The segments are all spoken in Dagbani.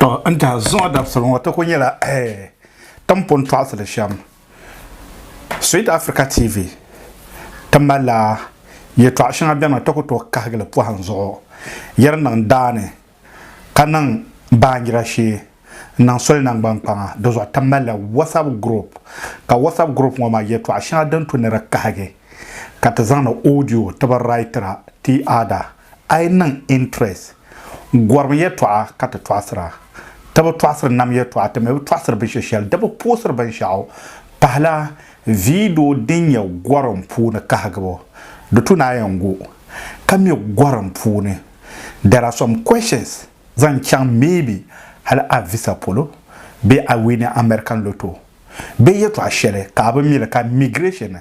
To n tiɛhi zuŋɔ dabisili ŋɔ ti ku nyɛla timpuni tɔɣisili shɛm Sweet Africa TV ti malila yɛtɔɣ shɛŋa bɛni maa ti ku tooi kahigili pɔhim zuɣu yɛri niŋ daa ni ka niŋ baanjira shee n-niŋ soli naŋgbankpaŋa di zuɣu ti malila WhatsApp group ka WhatsApp group ŋɔ maa yɛtɔɣ shɛŋa din tu ni di kahigi ka ti zaŋdi audio ti bi writira ti ada A yi niŋ interest, gɔrim yɛtɔɣa ka ti tɔɣisira. Ti bi tɔɣisiri nam yɛtɔɣa, ti mi bi tɔɣisiri binshɛ shɛli, di bi puɣisiri binshɛɣu pahila vidio din nyɛ gɔrim puuni kahigibu. Di tu ni a yɛn gu ka mi gɔrim puuni There are some questions zaŋ chaŋ maybe hali a visa polo bee a wini American lotto bee yɛtɔɣa shɛli ka a bi mi li ka migration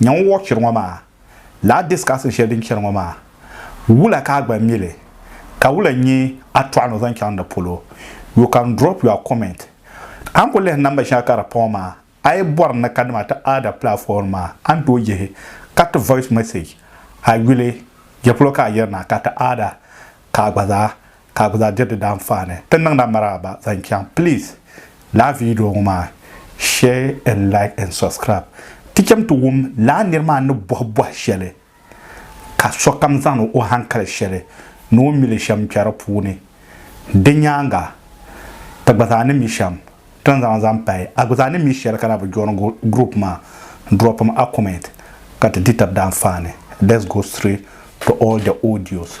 Nya ŋun wɔɣi chɛri ŋɔ maa, laa discussing shɛli din chɛri ŋɔ maa, wula ka a gba mi li, ka wula n-nyɛ a tɔɣu ni o zaŋ chaŋ di polo? You can drop your comment. A ni ku lihi namba shɛŋa ka di pa ŋɔ maa, a yi bɔri ni kanima ti Ada platform maa, a ni tooi yihi ka ti voice message a yuli, Jɛpolo ka a yiri na ka ti Ada ka a gba zaa ka bɛ zaa diri di daanfaani ti niŋda maraaba zaŋ chaŋ please laa video ŋɔ maa share and like and subscribe ti chem ti wum laa niri maa ni bɔhi bɔhi shɛli ka sokam zaŋ o hankali shɛli ni o mili shem kpe di puuni di nyaaŋa ti gba zaa ni mi shem ti ni zaŋ zaŋ pahi a gba zaa ni mi shɛli ka na bi join group maa dropim a comment ka ti di tab daanfaani let's go straight to all the audios.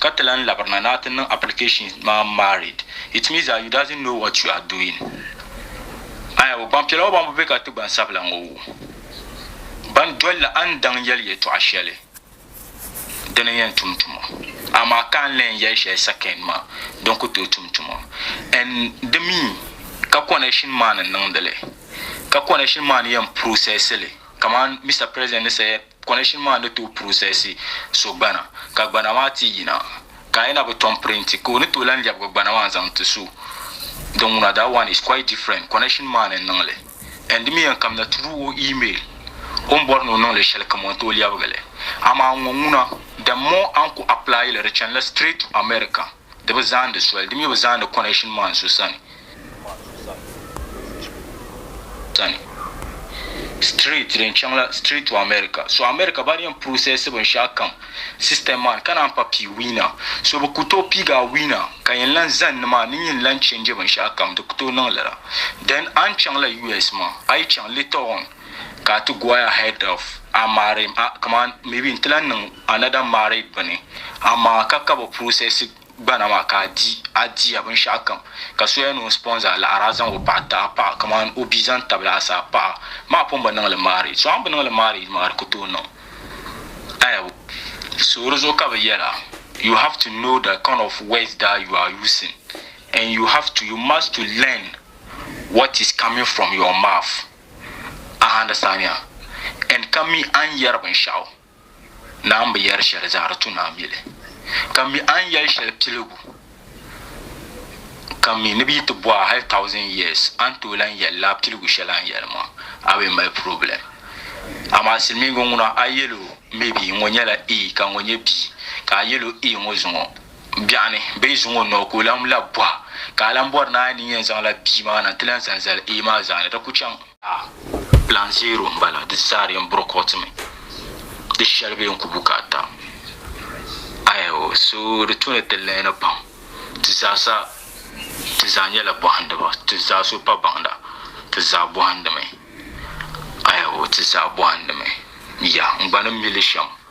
Ka ti lan labirina ni a ti niŋ application maa married. It means that you doesn't know what you are doing. Aya ŋɔ gbanpiɛla ŋɔ ban bi be ka ti gbansabila ŋɔ wu ban dolila a ni daŋ yɛli yɛtɔɣa shɛli din n yɛn tum tuma amaa ka a ni lan yɛli shɛli second maa din ku tooi tum tuma and di mi ka connection maa ni niŋdi li ka connection maa ni yɛn process li kaman Mister President ni said Connection maa ni tooi process so gbana ka gbana maa ti yina ka a yɛna bi tom print ka o ni tooi lan lɛbigi gbana maa n-zaŋ ti so din ŋuna that one is quite different connection maa ni n-niŋ li and di mi yɛn kamina through o email o ni bɔri ni o niŋ li shɛli kam o ni tooi lɛbigi li amaa ŋɔ ŋuna the more a ni ku apply li di chanila straight to America. Di bi zaandi soli, di mi bi zaandi connection maan so sani. Street din chaŋ la street to America. So America ba di yɛn process binshɛɣu kam system maan ka naan pa pii winner. So bi ku tooi piigi a winner ka yɛn lan zani ni maa ni n yin lan change binshɛɣu kam. Di ku tooi niŋ lala. Then a ni chaŋ la US maa, a yi chaŋ later on, ka a ti go a ahead of a married a kaman maybe n ti lan niŋ another married bini amaa ka ka bi process gbana maa ka a di a diya binshɛɣu kam ka soya ni o sponsor a laɣiri a zaŋ o paɣa ti a paɣa kaman o bia zaŋ tabili a sa a paɣa maa pun bi niŋ li marriage so a ni bi niŋ li marriage maa di ku tooi niŋ ayabo so di zuɣu ka bi yɛla you have to know the kind of words that you are using and you have to you must to learn what is coming from your mouth. Ahaa, di saaniya and ka mi a ni yɛri binshɛɣu ni a ni bi yɛri shɛli zaa di tu ni a mili. Ka mi a ni yɛli shɛli piligu ka mi ni bi yi ti bɔh a hali thousand years a ni tooi lan yɛli lala piligu shɛli a ni yɛli maa, a bi mali problem. Amaa silimiiŋga ŋuna a yɛl o maybe ŋɔ nyɛla A ka ŋɔ nyɛ B ka a yɛl o A ŋɔ zuŋɔ. biɛɣu ni bee zuŋ o noo ka o lahi labi bɔha, ka a lahi bɔri ni a ni yɛn zaŋla bia maa na nti lahi zani zali A maa zaani, di ku chaŋ. A, Plan Zero m-bala, di zaa di yɛn burokɔtimi. Di shɛli bee n-ku bukaata. Aɛo, so di tu ni ti lihini pam. Ti zaa sa ti zaa nyɛla bɔhindiba. Ti zaa so pa baŋda. Ti zaa bɔhindimi. Aɛo, ti zaa bɔhindimi. Ya, n gba ni mi li shɛm.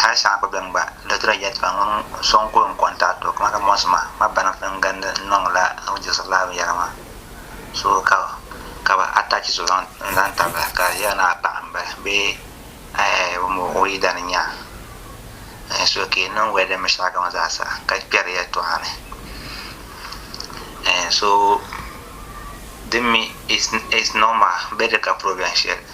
Hal saha gba bɛn gba n-daa ti daa yɛlitɔɣa ŋun so n-kuli n kɔntaɣiti o kaman ka mɔɣisi ma ma bana fi n gindi n niŋ la n ni diɣisiri lala binyɛra maa so ka ka bɛ attach so zaŋ n zaŋ tabili ka di yɛla ni a paɣa m-bala bee ɛɛh bɛ mo o yidana n nya ɛɛh so ka yi niŋ wɛli din mi shɛli kam zaa sa ka kpɛri yɛlitɔɣa ni ɛɛh so din mi it's it's normal bɛ di ka problem shɛli.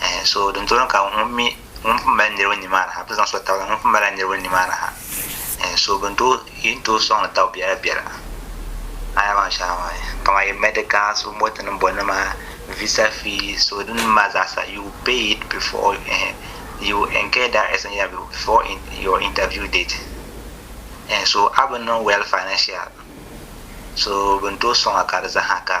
Eh, so din tɔri ka ŋun mi ŋun pun mali niriba ni maa ha bɛ zaŋ so tabila ŋun pun mali niriba ni maa ha eh, so bin to yin to sɔŋ daw biɛla biɛla aya maa shɛŋa maa kama yi medical so moti ni bɔ nima visa fee so din ma zaasa you pay it before eh, you incur that expense yeah, before in, your interview date eh, so a bi niŋ well financial so bin to sɔŋa ka di zaha ka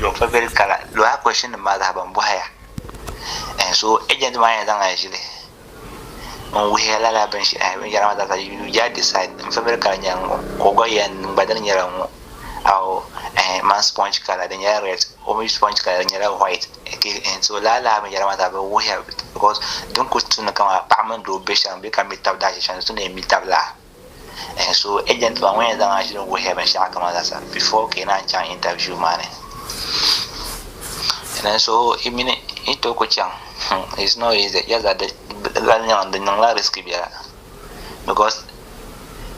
Yo ka beri kala loha question nim maa zaha ban bohi ya en so agent maa yɛn zaŋla zili n wuhiya lala bin shi en binyara maa zaasa you just decide n favorite kala nyɛla ŋɔ ka o gba yɛn niŋ gba dini nyɛla ŋɔ awo en man sponge kala di nyɛla red o mi sponge kala di nyɛla white okay en so lala binyara maa zaha bi wuhiya because din kuli tumdi kama paɣa mini doo bɛ shɛm bee ka mi tabi daashɛshɛm di tumdi mi tabi laa. So agent maa ŋun yɛn zaŋ a ʒili n wuhiya binshɛɣu kam zaasa before ka yi naan chaŋ interview maa ni din so i mini i to ku chaŋ it's not easy just that di lahi niŋ di niŋla risk biɛla because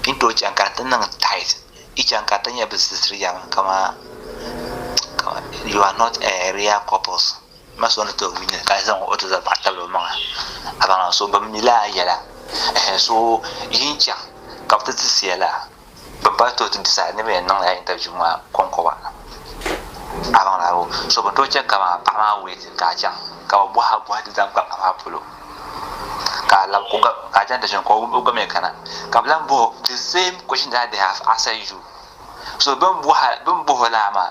yi to chaŋ ka di ti niŋ tight yi chaŋ ka di ti nyɛ bi zilsiri yam kamaa you are not a real couples M ma so ni ti wini ka zaŋ o ti za paɣa tabili o maŋa abaŋa so bɛ mi laa yɛla ɛhɛ so yi ni chaŋ ka bɛ ti ti siya la bɛ ba tooi ti disa ni bɛ yɛn niŋla interview maa kɔŋkɔba abaŋa o so bɛ tooi chɛ ka maa paɣa maa wait ka a chaŋ ka bɛ bɔhi a bɔhi ti zaŋ kpa paɣa maa polo ka a lab ka a chaŋ ti ʒini ka o gba mi kana ka bɛ lahi bɔhi o the same question that they have answered you so bɛ ni bɔhi o laa maa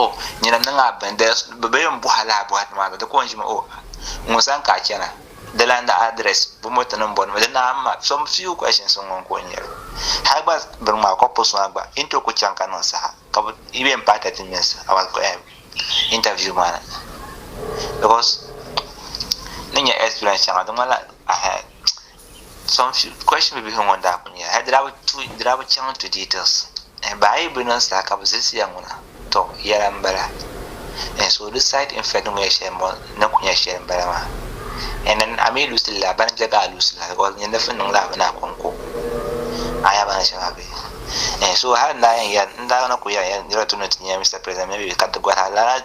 oh nyina niŋ a bɛn bɛ bɛ yɛn bɔha laa bɔhati maa di ko n ʒimi oh ŋun san ka a chɛna di lan da adrɛs bɛ mɔto nim bɔni mi di naa ma some few questions n ŋun ko n nyɛli hali gba bini maa kɔ post maa gba yi ni tooi ku chaŋ ka niŋ saha ka bi yi yɛn paai thirty minutes hours interview maa ni because ni nyɛ experience shɛŋa di ŋmanila. Some few question bibihi ŋɔ daa kuli nyɛla hal di daa bi chaŋ into details eh baa yi bi niŋ saha ka bi zilisi ya ŋuna tɔ yɛla n bala eh so di side effect ni bini yɛ shɛli ŋɔ na kuli nyɛla shɛli n bala maa eh na a mi lusi li la bani bɛ gaa lusi la because nyini fi niŋ la mi ni a konko a nya bani shɛba bɛ eh so hali n daa yɛn yɛli n daa na kuli yɛli ya niriba ti lu ni ti nya Mister President maybe ka ti gɔri a lala.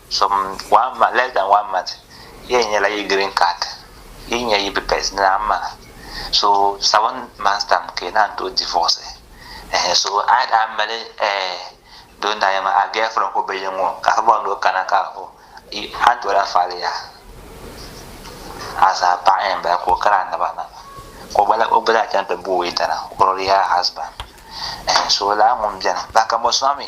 Some one month, less than one month yɛn nyɛla yi green card yi nya yi bipɛs ni a ma so seven months time ka yi naan tooi divorce ɛhɛn so a daa mali ɛɛ doo n daa yɛn ma a girlfriend ko bɛ yɛn ŋɔ ka afa bɔŋ ni o kana ka o yi a ni tooi lahi faali ya asaa paɣa yɛn bala ka o kari a naba na ka o gba la o gba zaa chaŋ ti booi tana already her husband ɛhɛn so laa ŋun bɛni bahi ka mɔsuma mi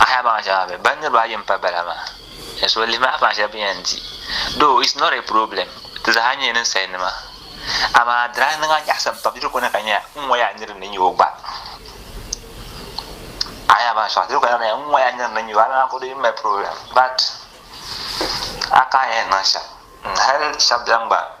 Ahaya baŋ shɛŋa bɛ ba niriba ayi m-pa bala maa ka so lihi maa baŋ shɛli bɛ yɛn di. Though it's not a problem, ti zaa nyɛla ninsalinima. Amaa di daa niŋ a nyaɣisim pam, diri kɔna ka nya n ŋɔ yaa nir ni nya o gba. Ahaya baŋ shɛŋa diri kɔna ka nya n ŋɔ yaa nir ni nya o, amaa ka o di m-mali problem but a ka n yɛn niŋ shɛm, hal shɛba beni gba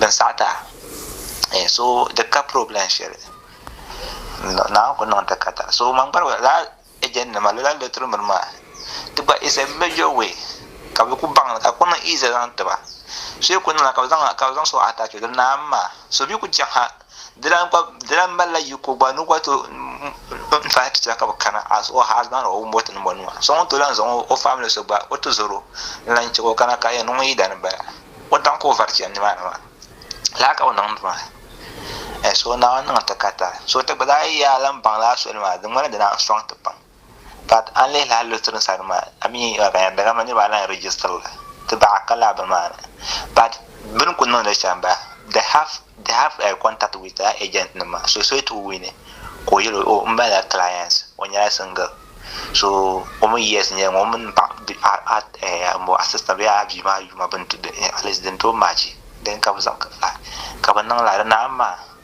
Din saɣita eh so di ka problem shɛli Naawuni ku niŋ di ka ta so man gba lala agent nima lala lottery miri maa di gba is a major way ka bɛ ku baŋ li ka ku niŋ easy zaŋ tiba so yi ku niŋ la ka bɛ zaŋ so attach o di naai mi maa so bi ku chaŋ ha Di lahi gba di lahi malila yiko gba ni gba to n fahi chicha ka bi kana as o husband or wumboti ni bɔ nima so ŋun to lahi zaŋ o family so gba o ti zoro n lahi chɛbo kana ka yɛn niŋ yida ni bala o daŋ ka o vari chɛni nimaani maa laa ka o niŋ maa so naawuni niŋ ti ka ta so ti gba daa yaa lan baŋ laa soli maa di ŋmanila di naan sɔŋ ti pam Ka a ni lihi lahi Lutheran sani maa, a mi yi ka yan dagama niriba alan register la ti baɣa ka lahi bi maani. But bini ku niŋdi shɛm ba, they have they have a contact with a agent nim maa, so soyi ti ku wini ka o yɛl o oh n bala la clients, o nyɛla single, so o mi years n nyɛli ŋɔ, o mi ni paɣa di a a eh a mo assistant bee a bia maa yuma bini ti at least din tooi match, then ka bi zaŋ ka bi niŋ la di naai maa.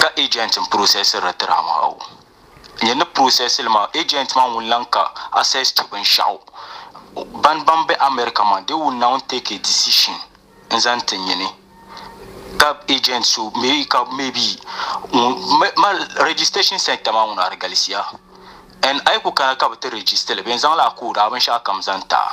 ka agent n processiri di tiri a maa o nyɛ ni processili maa agent maa wun lan ka access to binshaɣu ban ban be America maa they will now take a decision n zaŋ ti nyini ka agent so maybe ka maybe ma registration center maa ŋuna di galisiya and ayi ku kana ka bi ti registili bɛn zaŋla a code a binshaɣu kam zaŋ taa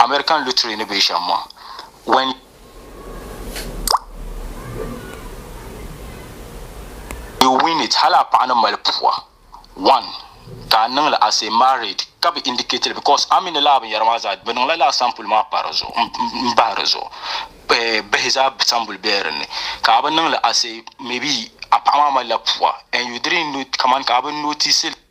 American lottery ni bɛ shɛm ŋɔ. When you win it, hali a paɣa ni mali pua one ka a niŋ li as a married ka bi indicate li because a mi ni lala binyɛra maa zaa, bɛ niŋ la lala sample maa pa di zuɣu m-bahi di zuɣu. Bihi zaa sambuli bela din ni ka a bi niŋ li as a maybe a paɣa maa mali la pua and you didn't note kamani ka a bi notice li.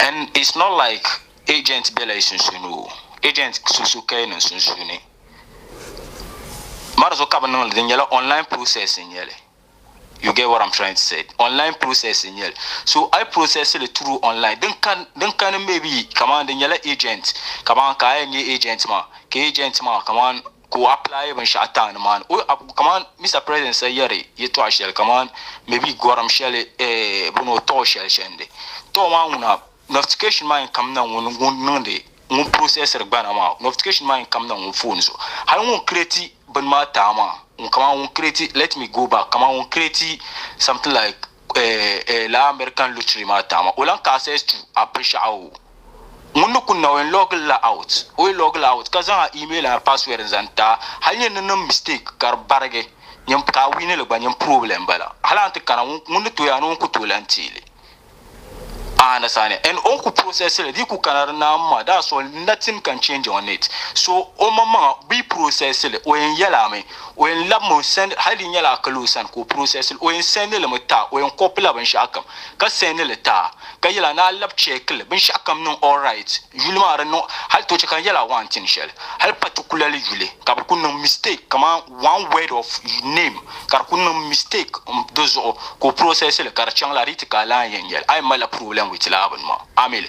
and it's not like agent bela yi sunsuuni o agent susu ka yi niŋ sunsuuni mari so ka bi niŋli di nyɛla online process n nyɛli you get what i'm trying to say online process n nyɛli so i process li through online din kan din kani maybe kaman di nyɛla agent kaman ka a yɛn nyɛ agent maa ka agent maa kaman ka o apply binshɛɣu town maa ni o ab- kaman Mr President sa yɛri yɛtɔɣa shɛli kaman maybe gɔrim shɛli eh, bɔno tɔɔ shɛli chɛndi tɔɔ maa ŋuna notification maa yɛn kamina ŋun ŋun niŋdi ŋun processiri gbana maa notification maa yɛn kamina ŋun phone zuɣu hali ŋun create bini maa taa maa ŋun kaman ŋun create let me go back kaman ŋun create something like eh, eh, la American lottery maa taama o lan ka access to a pinshaɣu ŋun ni kunna o yɛn log la out o yi log la out ka zaŋ a email a password n-zaŋ ta hali nyɛ ni niŋ mistake ka di barigi nyɛm ka a wini li gba nyɛm problem bala hali an ti kana ŋun ni tooi a ni ŋun ku tooi lan teeli a understand and on ku process li di ku kana di naam maa that's all nothing can change on it so o maŋmaŋa be process li o yɛn yɛla mi O yɛn labimi o send hali di nyɛla a kali o sani ka o process li, o yɛn send li mi taa, o yɛn copy la binshɛɣu kam ka send li taa ka yɛl a ni a lab check li binshɛɣu kam niŋ alright, yuli maa di niŋ hali ti o chɛ ka n yɛl a waan tin shɛli hali particularly yuli ka bɛ kuli niŋ mistake kaman one word of name ka di kuli niŋ mistake m di zuɣu ka o process li ka di chaŋ la di yi ti ka a lahi yɛn nyɛli a yɛn mali la problem with lala bini maa a mi li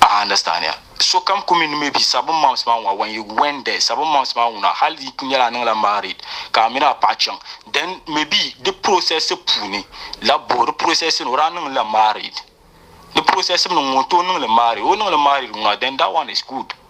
a understand ya so kam ku mini maybe seven months maa ŋuna when you went there seven months maa ŋuna hali di ku nyɛla a niŋla married ka a mini a paɣa chaŋ then maybe di process puuni la bo di process ni o daa niŋla married di process ni ŋun to niŋli married o niŋli married ŋuna then that one is good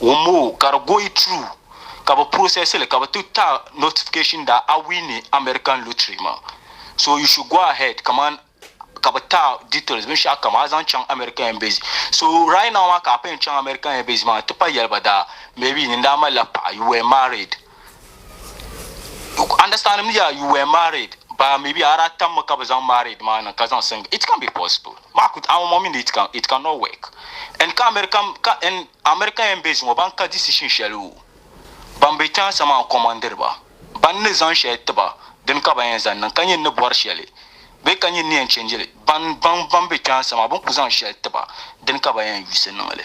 Wumoo ka di goyi true ka bi process li ka bi ti ta notification daa a winni American lottery maa so you should go ahead kaman ka bi ta details binshɛɣu kam a zaŋ chaŋ American embassy so right now maa ka a pɛn chaŋ American embassy maa n ti pa yɛli ba daa maybe nin daa mali la paɣa you were married. Understand me yeah, you were married but maybe ara tam ka bi zaŋ married maa niŋ ka zaŋ single it can be possible maa kut awon mo min it can it can not work and ka American ka and American yan base ŋo ban ka decision shɛli wu ban be tiɛha sama n kɔmandiri ba ban ni zaŋ shɛli tiba din ka ban yan zaŋ niŋ ka nyin ni bɔri shɛli bee ka nyin ni yan change li ban ban ban be tiɛha sama bin ku zaŋ shɛli tiba din ka ban yan yuusi niŋ li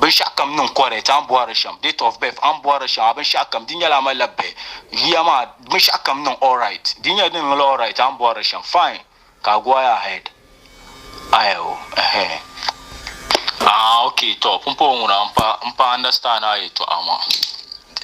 binshɛɣu kam niŋ correct an bɔhiri shɛm date of birth an bɔhiri shɛm a binshɛɣu kam di nyɛla a malila bihi yuya maa binshɛɣu kam niŋ alright di nyɛla din niŋla alright an bɔhiri shɛm fine ka a go ahead aya o ɛhɛn ah ok tɔ pumpɔŋɔ ŋuna n pa n pa understand a yɛltɔɣa maa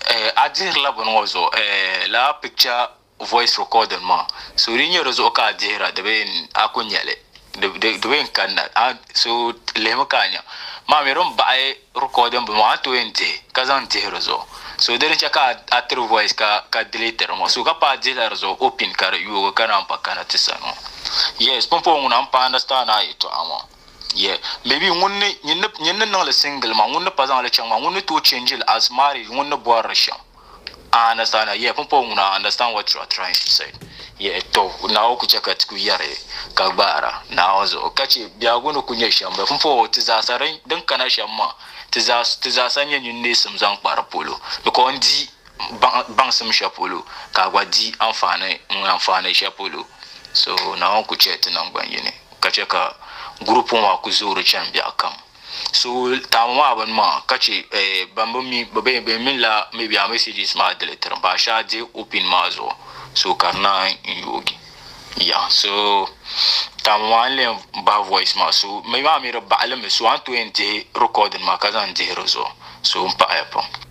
eh a dihirila bini ŋɔ zuɣu eh lala picture voice recording maa so di nyɛ di zuɣu ka a dihira di bee a ku nya li di bee n-kanna a so lihimi ka a nya maa mi din baɣi recording bini maa a ni tooi yɛn dihi ka zaŋ dihi di zuɣu so di ni chɛ ka a tiri voice ka delete di ŋɔ so ka paai dihila di zuɣu opin ka di yoogi ka naan pa kana ti sani ŋɔ yes pumpɔŋɔ ŋuna m-pa understand a yɛltɔɣa maa. Yeah maybe ŋun ni nyin ni nyin ni niŋli single maa ŋun ni pa zaŋli chaŋ maa ŋun ni tooi change li as marriage ŋun ni bɔrili shɛm a understand a yeah pumpɔŋɔ ŋuna I understand what you are trying to say yeah to Naawuni ku chɛ ka ti ku yɛri ka gbaara Naawuni zuɣu ka chɛ biɛhigu ni ku nyɛ shɛm bɛ pumpɔŋɔ ti zaasa din din kana shɛm maa ti zaa ti zaasa nyɛ nyin neesim zaŋ kpa di polo because n di baŋsim shɛli polo ka a gba di anfaani ŋun anfaani shɛli polo. So Naawuni ku chɛ ti naŋgban yini ka chɛ ka gurupu maa ku zoori chani biɛɣukam. So taami maa bini maa ka chɛ ban bi mi bee bɛn mi la maybe a messages maa deli tirim ba ashe a di o pin maa zuɣu. So ka di naan yi yoogi. Yeah so taami maa n leen bahi voice maa so mi maa mi di baɣili mi so a ni tooi yɛn dihi recording maa ka zaŋ dihi di zuɣu so m paɣiya pam.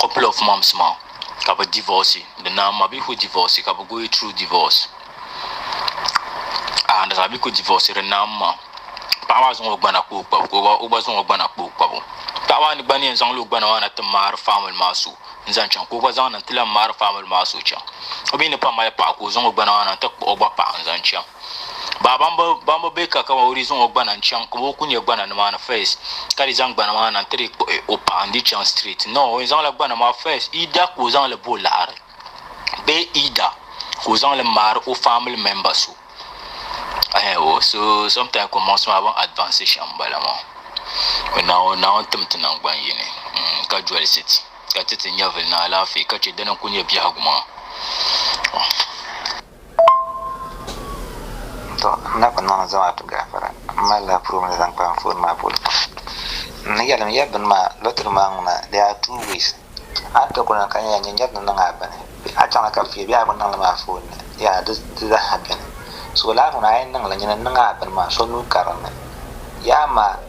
couple of months maa ka bi divorce bi naan mabiihu divorce ka bi go through divorce a understand bi ku divorce di naan ma paɣa maa zaŋ o gbana kpa o kpabu ka o gba- o gba zaŋ o gbana kpa o kpabu paɣa maa ni gba ni yɛn zaŋla o gbana maa na ti maari family maa so n zaŋ chaŋ ka o gba zaŋ na n ti lahi maari family maa so chaŋ o mi ni pam mali paɣa ka o zaŋ o gbana maa na n ti kpuɣi o gba paɣa n zaŋ chaŋ Baa ban bi ban bi be ka kama o di zaŋ o gbana n chaŋ ka o ku nyɛ gbana nimaani first ka di zaŋ gbana maa na n ti di kpuɣi o paɣa n di chaŋ straight no o yɛn zaŋla gbana maa first either ka o zaŋ li bo laɣari bee either ka o zaŋ li maari o family member so ayi o so sometimes kɔmaŋsi maa bin advance shɛm n bala maa o naawuni naawuni tim ti nangban yini mm, ka jolisi ti ka ti ti nyɛvili ni alaafee ka chɛ dini n ku nyɛ biɛhigu maa To, n na ku niŋ zamaatu gaafara. M malila purum ni zaŋ kpa anfooni maa polo pam. N ni yɛlim ya bini maa, lɔtiri maa ŋuna, there are two ways. A ni ti kuli na ka nya nyɛnyɛri ni niŋ a bini, bee a chaŋ na ka fiya bee a ku niŋ li mi a foon ni, yaa di zaa ha beni. So lala ŋuna a yɛn niŋ li nyini n niŋ a bini maa, so nuu karim mi. Yaa amaa!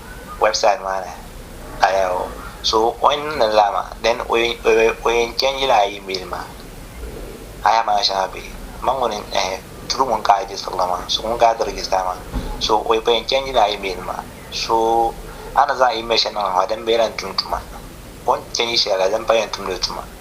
website maa ni ka lala o so o yɛn niŋdi lala maa then o yɛn chɛn yila a email maa a yaa maa shɛŋa bɛ ma ŋuni ɛhɛ through ŋuni ka a register la maa so ŋuni ka a ti register maa so o yɛn chɛn yila a email maa so a ni zaŋ email shɛli niŋ maa din bɛ yɛn lahi tum tuma o ni chɛn yi shɛli la din pa yɛn tumdi tuma.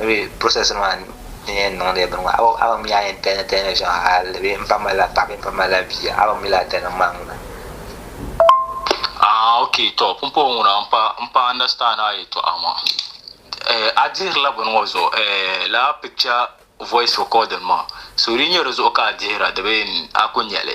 maybe process maa n yɛn niŋdi bini maa a ba mi yaa yɛn tɛni tɛni shɛŋa hali bee n pa malila paɣa bee n pa malila bia a ba mi laa tɛni maa ŋuna. Ah ok tɔ pumpɔŋɔ ŋuna n pa n pa understand a yɛltɔɣa maa eh a dihirila bini ŋɔ zuɣu eh lala picture voice recording maa so di yi nyɛ di zuɣu ka a dihira di bee a ku nya li.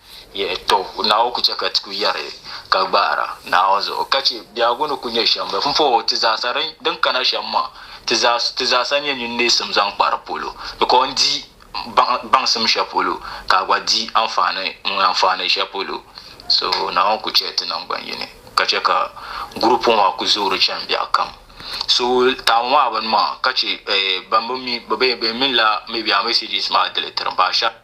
Yɛli, Tɔ! Naawuni ku chɛ ka ti ku yɛri ka gbaara Naawuni zuɣu, ka chɛ biɛhigu ni ku nyɛ shɛm bɛ pumpɔŋɔ ti zaasa din kana shɛm maa, ti zaasa n-nyɛ nyin neesim zaŋ kpa di polo, di ka o ni di baŋsim shɛli polo, ka a gba di anfaani ŋun anfaani shɛli polo. So Naawuni ku chɛ ti naŋgban yini, ka chɛ ka gurupu maa ku zoori chani biɛhigu kam. So taama maa bini maa, ka chɛ bɛn bi mi, bɛ mi la Media Messages maa di li tiri ba.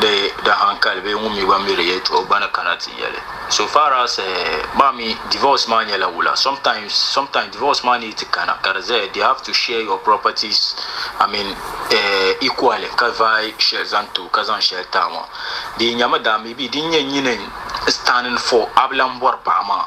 Di da hankali bee ŋun mi gba mi di yɛltɔɣa o gba ni kana ti yɛli. So far as maa mi divorce maa nyɛla wula sometimes sometimes divorce maa need ti kana ka di zaya they have to share your properties I mean equally ka vaai shɛli zaŋ ti o ka zaŋ shɛli ti a maa. Di yi nyami daa maybe din nyɛ nyini standing for a bi lan bɔri paɣa maa.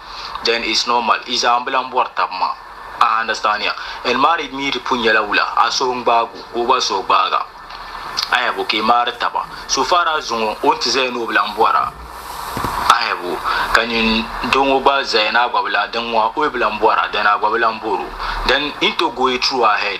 then it's normal i zaa n bi lan bɔri tab maa a understand ya and married mi di pun nyɛla wula a suhi n gbaag o ka o gba suhi gbaag a ayabo ka i maari taba so far as zuŋɔ o ni ti zaya ni o bi lan bɔr a ayabo ka nyin doo ŋɔ gba zaya ni a gba bi lan din ŋɔ o yi bi lan bɔr a then a gba bi lan bɔr o then n to go it through ahead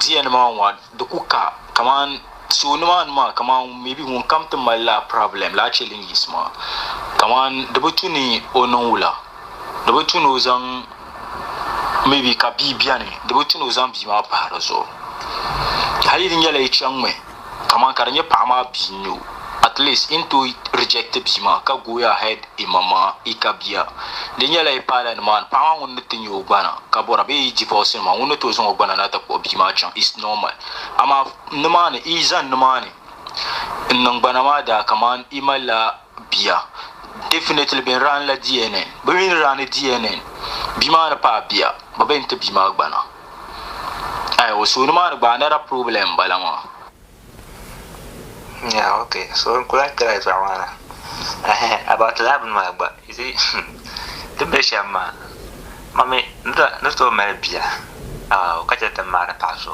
Diya ni maa ŋɔ di ku ka kaman so nimaani maa kaman meebi ŋunkam ti malila pirɔblɛm lahi che din yiɣisi maa kaman di bi tu ni o niŋ wula di bi tu ni o zaŋ meebi ka bia beni di bi tu ni o zaŋ bia maa pahi di zuɣu hali di nyɛla yi chaŋmi. kaman ka di nyɛ paɣa maa bia n-nyɛ o. At least yi ni tooi reject bia maa ka go ahead yi ma ma yi ka bia, di nyɛla yi paala nimaani paɣa maa ŋun ni ti nya o gbana ka bɔra bee yi divorce ni maa ŋun ni tooi zaŋ o gbana na ti kpuɣi bia maa chaŋ is normal. Amaa nimaani yi zani nimaani n-niŋ gbana maa daa kaman yi malila bia definitely bɛ ni raani la DNA bɛ mi ni raani DNA bia maa ni paai bia bɛ bɛn ti bia maa gbana ayi o suuni maa ni gba another problem n bala maa. Yeah ok so n kuli ati la zuɣu maa na ehe about laa bini maa gba you see ti bɛ shɛm maa ma mi ni tooi mali bia aw ka chɛ ti ni maari paɣa so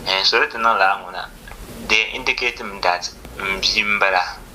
ehe so di ti niŋ laa ŋuna di indicate mi that n bia m bala.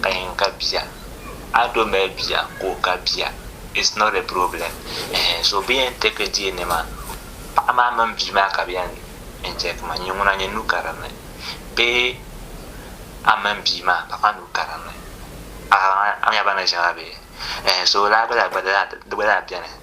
ka yen ka bia a do mali bia ka o ka bia it's not a problem ehe so bɛ yen take deei ni ma paɣa maa mini bia maa ka bɛ yen n take ma nyin ŋuna nyin nu ka din ni bee a mini bia maa paɣa maa nu ka din ni a nya ba ni ʒe ma bee ehe so lala gba zaa di gba zaa beni.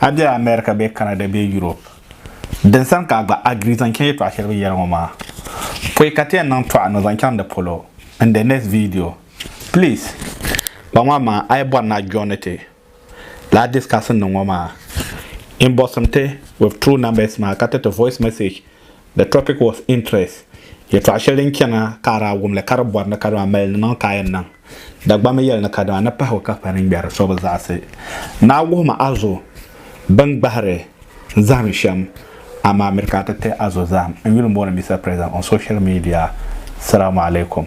A be America bee Canada bee Europe, din sani ka a gba agree zaŋ chaŋ yɛltɔɣa shɛli bɛ yɛli ŋɔ maa, pɔi ka ti yɛn niŋ tɔɣa ni o zaŋ chaŋ di polo in the next video. Please! Kpa ŋɔ amaa a yi bɔri ni a joini ti lala discussion niŋ ŋɔ maa, inbox-m ti with true numbers maa ka tiriti voice message. The topic was interest, yɛtɔɣ shɛli din chana ka a daa wum li ka di bɔri ni kadama mali nimaŋ ka a yɛn niŋ. Dagbamba yɛli ni kadama ni pahigu ka kpa niŋgbɛri so bi zaɣisi ni a wuhim a zo bɛn gbahiri zahim shɛm amaa miri ka a ti ti a zo zahim n yuli mooni Mister President on social media. Salamu alaikum.